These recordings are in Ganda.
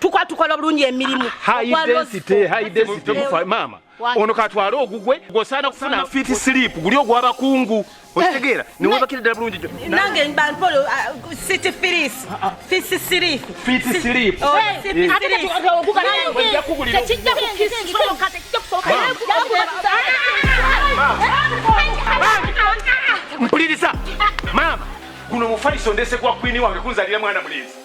tukwa tukola bulungi emirimu maama ono katwale ogugwe gwosaana kufuna fiti silipu guli ogwabakungu eh. okitegeera newebakira ddala bulungi nange bampolo uh, city firis ah, ah. fisi silipu fiti silipu oh, mpuliriza maama guno mufaliso ndese gwa kwini wange kunzalira mwana mulenzi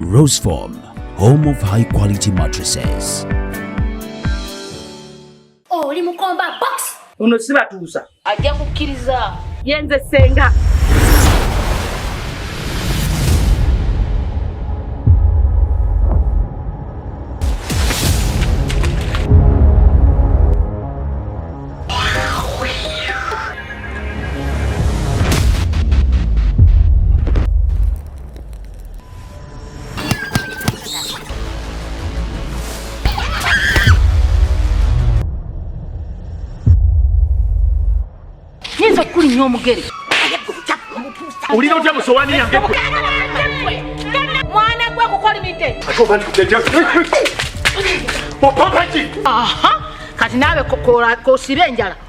Roseform, home of high quality mattresses. Oh, oli mukomba box. Ono sibatuusa. Ajja kukkiriza. Yenze senga. nyinza okukulinya omugere olina otya musowani yange mwana gwe kukolimidde kati naawe kosiba enjala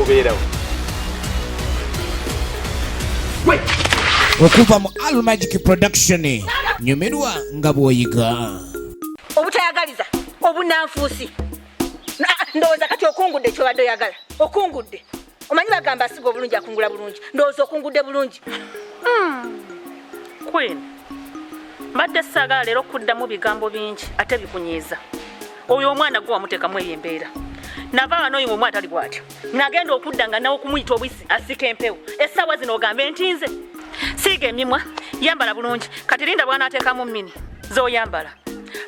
obeerawo okuva mu almagic production nyumirwa nga bwoyiga obutayagaliza obunanfuusi ndowooza kati okungudde kyobadde oyagala okungudde omanyi bagamba asiga obulungi akungula bulungi ndowooza okungudde bulungi hmm. queen mbadde saagala leero okuddamu bigambo bingi ate bikunyiiza oyo omwana gwe wamutekamu eyo embeera nava wano oyo omwana tali bwatyo nagenda okudda nga nawe okumuyita obwisi asika empewo essaawa zino ogambe nti nze siiga emimwa yambala bulungi kati linda bwanateekamu mini zoyambala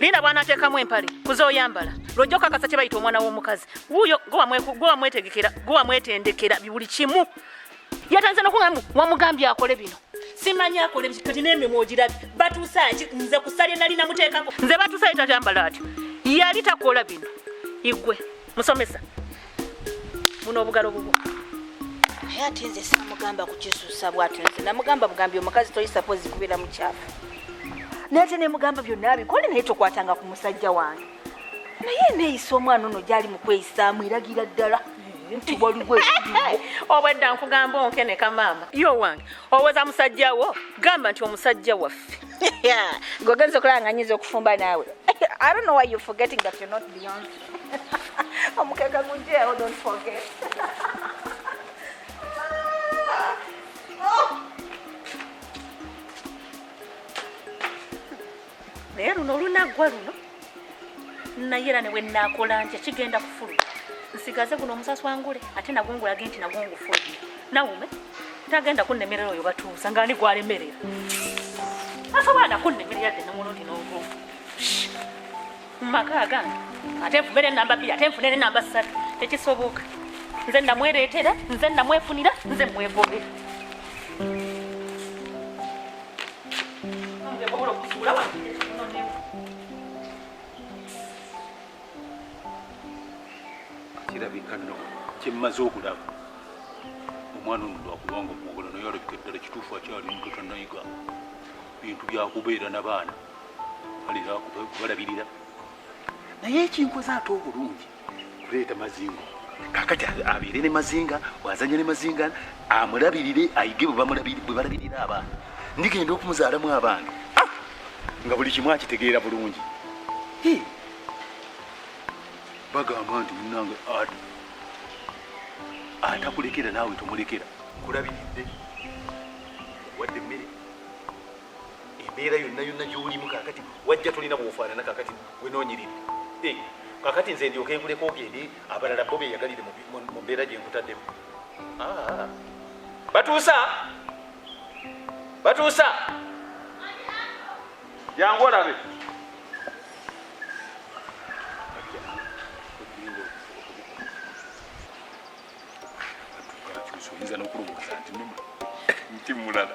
linda bwanateekamu empale kuzoyambala lwojja okakasa kye bayita omwana w'omukazi wuyo gwewamwetegekera gwewamwetendekera buli kimu yatandise nokugamba wamugambye akole bino simanyi akole kati nemimwa ogirabye batuusaaki nze kusalye nali namuteekako nze batuusaye tatambala atyo yali takola bino igwe musomesa muno obugalo bubwo naye ati nze samugamba kukisusa bwatyo nze namugamba bugambi omukazi toyisapozi kubeera mukyafu naye ate nemugamba byonna abikole naye tokwatanga ku musajja wange naye eneeyisa omwana ono gyali mu kweyisaamu eragira ddala nti waliwo obwedda nkugamba onkeneka maama yo wange owoza musajja wo gamba nti omusajja waffe gogenza okulaba nga nyinza okufumba naawe i don't know why you forgetting that you're not beyond omukeka gujjeewo don't forget naye luno olunaggwa luno naye era newe naakola nti ekigenda kufuluma nsigaze guno omusasi wangule ate nagwo ngulage nti nagwo ngufulumye nawume tagenda kunnemerera oyo batuusa nga ani gwalemerera asobola nakunnemerera dde nomulundi n'ogu mu maka agange ate nfume nenamba bbiri ate nfune nenamba ssatu tekisoboka nze namwereetera nze namwefunira nze mwegobera kirabika no kyemmaze okulaba omwana ono lwakubanga omugole naye alabika eddala kituufu akyali muto tanayiga bintu byakubeera nabaana balabirira naye ekinkoze ate obulungi kuleeta mazinga kakati abeere ne mazinga bwazanya ne mazinga amulabirire ayige bwe balabirira abaana ndigenda okumuzaalamu abaana ah! nga buli kimu akitegeera bulungi bagamba nti munange atakulekera naawe tomulekera nkulabiridde wadde emmere embeera yonna yonna gyolimu kakati wajja tolina bwofaanana kakati wenonyirire eh, kakati nze ndyoke nkuleka ogende abalala bo beyagalire mu mbeera gye nkutaddemu ah. batuusa batuusa jangu olabe oyinza nokulowooza nti numa nti mulala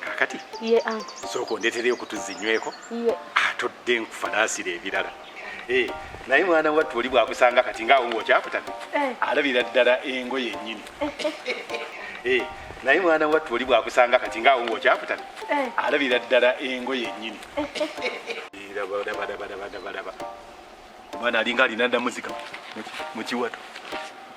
kakati ye anko sooka ondeetereyo okutuzza enyweko atodde nkufalaasira ebirala eh, naye mwana wattu oli bwakusanga kati ngaawo ngaokyakutamye eh. alabira ddala engo yennyini eh, naye mwana wattu oli bwakusanga kati ngaawo ngaokyakutamye alabira ddala engo yennyini omwana alinga alina namuzika mukiwato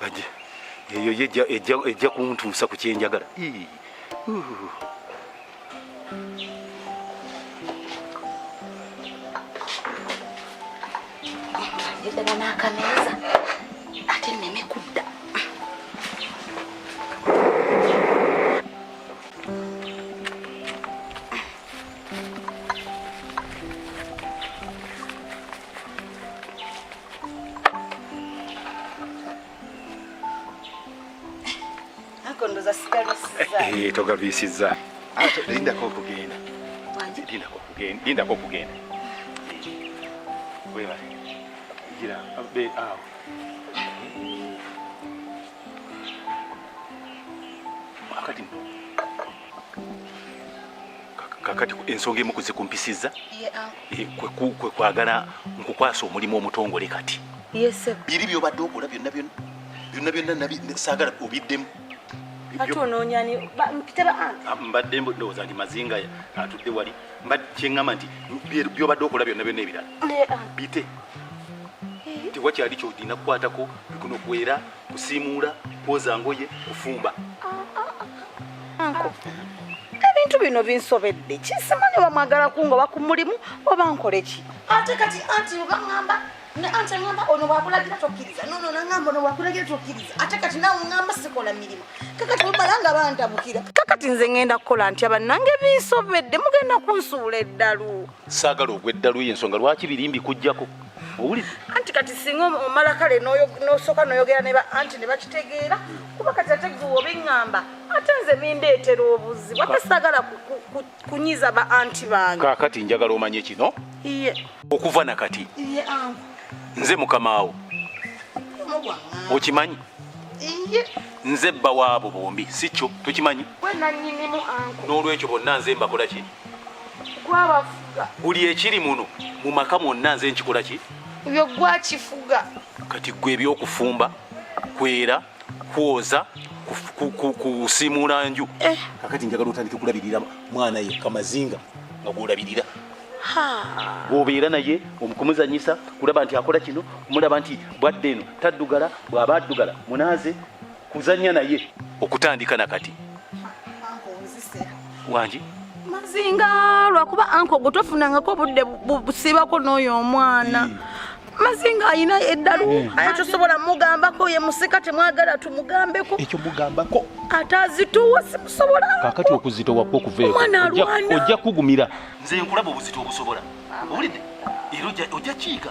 baje eyo yejja ejja ejja kuntuusa ku kyenjagala yegana n'akameeza ate neme kudda Eh, togalwisizza lindako okugenda lindako okugenda webale gira be awo wakati kakati ensonga emu kuzikumpisizza eh, kwe kwagala nkukwasa omulimu omutongole kati biri byobadde okola byonna byonna byonna byonna saagala obiddemu ah, mbadde ndowooza nti mazinga atudde wali kyeŋŋamba nti byobadde okola byonna byonna ebirala bite tiwakyali kyolina kukwatako bikunokuwera kusiimuula kwoza ngoye kufumba ebintu bino binsobedde kisimanyi oba mwagala kungoba ku mulimu oba nkole ki ate kati anti obaŋamba ne anti aŋamba ono wakulagira tokkiriza nono naŋamba ono wakulagira tokkiriza ate kati nawe ŋamba sikola mirimu kakati omala nga bantabukira kakati nze ŋenda kukola ntya bannange binsobedde mugenda kunsuula eddalu saagala ogwa eddalu y'ensonga lwaki biri mbikugyako owulidde anti kati singa omala kale nosooka noyogera ne anti ne bakitegeera kuba kati ate gwe obiŋŋamba ate nze bindeetera obuzibu ate saagala kunyiza ba anti bange kaakati njagala omanye kino iye okuva na kati iye angu nze mukamaawo okimanyi iye nze bba waabo bombi si kyo tokimanyi n'olwekyo bonna nze mbakola ki buli ekiri muno mu maka mwonna nze nkikola ki ebyo gwakifuga kati gwe ebyokufumba kwera kwoza kusimuula nju eh. kakati njagala otandike kulabirira mwana yekka mazinga nga gwolabirira obeera naye omukumuzanyisa kulaba nti akola kino kumulaba nti bwadde eno taddugala bw'aba addugala munaaze kuzanya naye okutandika na kati wangi mazinga lwakuba anko gwe tofunangako obudde busiibako n'oyo omwana hmm. mazinga ayina eddalu hmm. aye tosobola mugambako ye musika temwagala tumugambeko ekyo mugambako ate azitowa simusobola kakati okuzitowa kwo kuveekoojja kugumira nze nkulaba obuzito obusobola owulidde era ojja kiika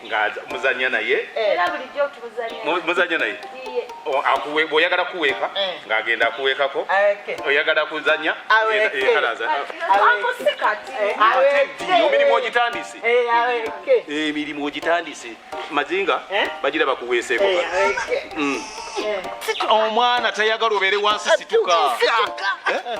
nga muzanya naye eh. muzanya naye bwoyagala kuweeka eh. ng'agenda akuweekako oyagala kuzanya emirimu ogitandise emirimu ogitandise mazinga bagira bakuweeseeko mm. omwana tayagala obeere wansi situka eh?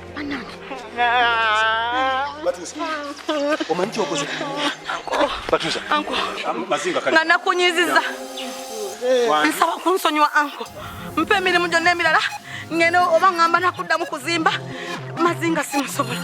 nga nakunyiziza nsaba kunsonyiwa anko mpa emirimu gyonna emirala ngeno oba ngamba nakuddamu kuzimba mazinga simusobola